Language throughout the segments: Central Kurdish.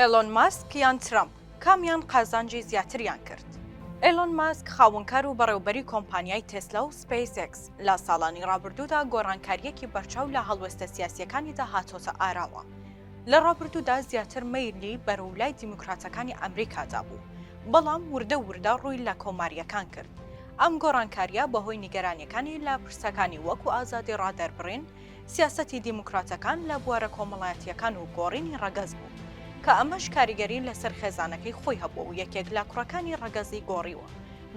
ئێلۆن ماسک یان ترەمپ، کامیان قازانجی زیاتریان کرد؟ ئێلۆن ماسک، خاوەنکار و بەڕێوبەری کۆمپانیای تێسلا و سپەیس ئێکس، لە ساڵانی ڕابردوودا گۆڕانکارییەکی بەرچاو لە هەڵوێستە سیاسییەکانیدا هاتۆتە ئاراوە. لە ڕابردوودا زیاتر مەیلی بەرەو لای دیموکراتەکانی ئەمریکادا بوو، بەڵام وردە وردە ڕووی لە کۆمارییەکان کرد. ئەم گۆڕانکارییە بەهۆی نیگەرانییەکانی لە پرسەکانی وەکو ئازادی ڕادەربڕین، سیاسەتی دیموکراتەکان لە بوارە کۆمەڵایەتییەکان و گۆڕینی ڕەگەز بوو، کە ئەمەش کاریگەری لەسەر خێزانەکەی خۆی هەبووە و یەکێک لە کوڕەکانی ڕەگەزی گۆڕیوە،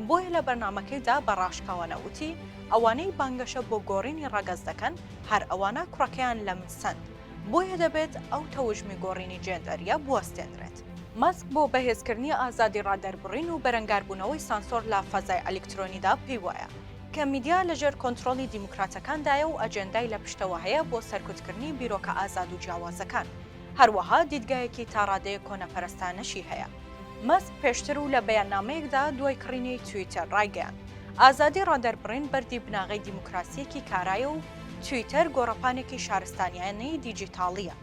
بۆیە لە بەرنامەکەیدا بە ڕاشکاوانە وتی، ئەوانەی بانگەشە بۆ گۆڕینی ڕەگەز دەکەن، هەر ئەوانە کوڕەکەیان لە من سەند، بۆیە دەبێت ئەو تەوژمی گۆڕینی جێندەرییە بوەستێنرێت. مەسک بۆ بەهێزکردنی ئازادی ڕادەربڕین و بەرەنگاربوونەوەی سانسۆر لە فەزای ئەلیکترۆنیدا پێی وایە، کە میدیا لەژێر کۆنترۆڵی دیموکراتەکاندایە و ئەجێندای لە پشتەوە هەیە بۆ سەرکوتکردنی بیرۆکە ئازاد و جیاوازەکان. هەروەها دیدگایەکی تا ڕادەیەک کۆنەپەرستانەشی هەیە. مەسک پێشتر و لە بەیاننامەیەکدا دوای کڕینی تویتەر ڕایگەیاند، ئازادی ڕادەربڕین بەردی بناغەی دیموکراسییەکی کارایە و تویتەر گۆڕەپانێکی شارستانیانەی دیجیتاڵییە.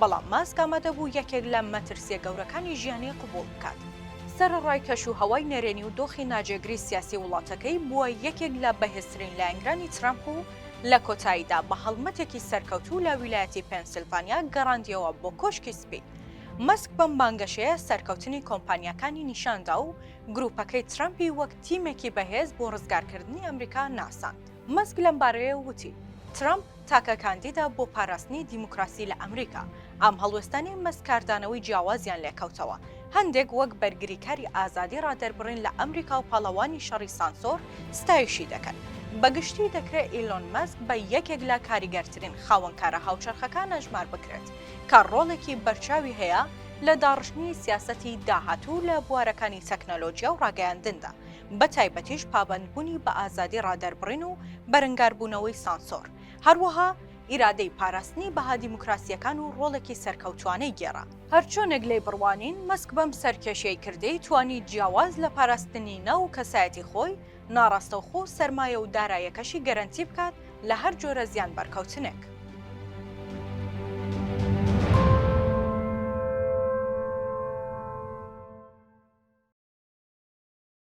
بەڵام ماسک ئامادە بوو یەکێک لە مەترسییە گەورەکانی ژیانی قبوڵ بکات. سەرەڕای کەشوهەوای نەرێنی و دۆخی ناجێگری سیاسی وڵاتەکەی، بووە یەکێک لە بەهێزترین لایەنگرانی ترەمپ و لە کۆتاییدا بە هەڵمەتێکی سەرکەوتوو لە ویلایەتی پێنسیلڤانیا گەڕاندییەوە بۆ کۆشکی سپی. مەسک بەم بانگەشەیە سەرکەوتنی کۆمپانیاکانی نیشان دا و گرووپەکەی ترەمپی وەک تیمێکی بەهێز بۆ ڕزگارکردنی ئەمریکا ناساند. مەسک لەمبارەیەوە وتی، ترەمپ تاکە کاندیدە بۆ پاراستنی دیموکراسی لە ئەمریکا. ئەم هەڵوێستانەی مەسک کاردانەوەی جیاوازیان لێکەوتەوە، هەندێک وەک بەرگریکاری ئازادی ڕادەربڕین لە ئەمریکا و پاڵەوانی شەڕی سانسۆر ستایشی دەکەن. بە گشتی دەکرێت ئیلۆن مەسک بە یەکێک لە کاریگەرترین خاوەنکارە هاوچەرخەکان ئەژمار بکرێت کە ڕۆڵێکی بەرچاوی هەیە لە داڕشتنی سیاسەتی داهاتوو لە بوارەکانی تەکنەلۆجیا و ڕاگەیاندندا بەتایبەتیش پابەندبوونی بە ئازادی ڕادەربڕین و بەرەنگاربوونەوەی سانسۆر، هەروەها ئیرادەی پاراستنی بەها دیموکراسییەکان و ڕۆڵێکی سەرکەوتووانەی گێڕا. هەرچۆنێک لێی بڕوانین، مەسک بەم سەرکێشیی کردەی توانی جیاواز لە پاراستنی ناو و کەسایەتی خۆی، ناڕاستەوخۆ سەرمایە و دارایەکەشی گەرەنتی بکات لە هەر جۆرە زیان بەرکەوتنێک.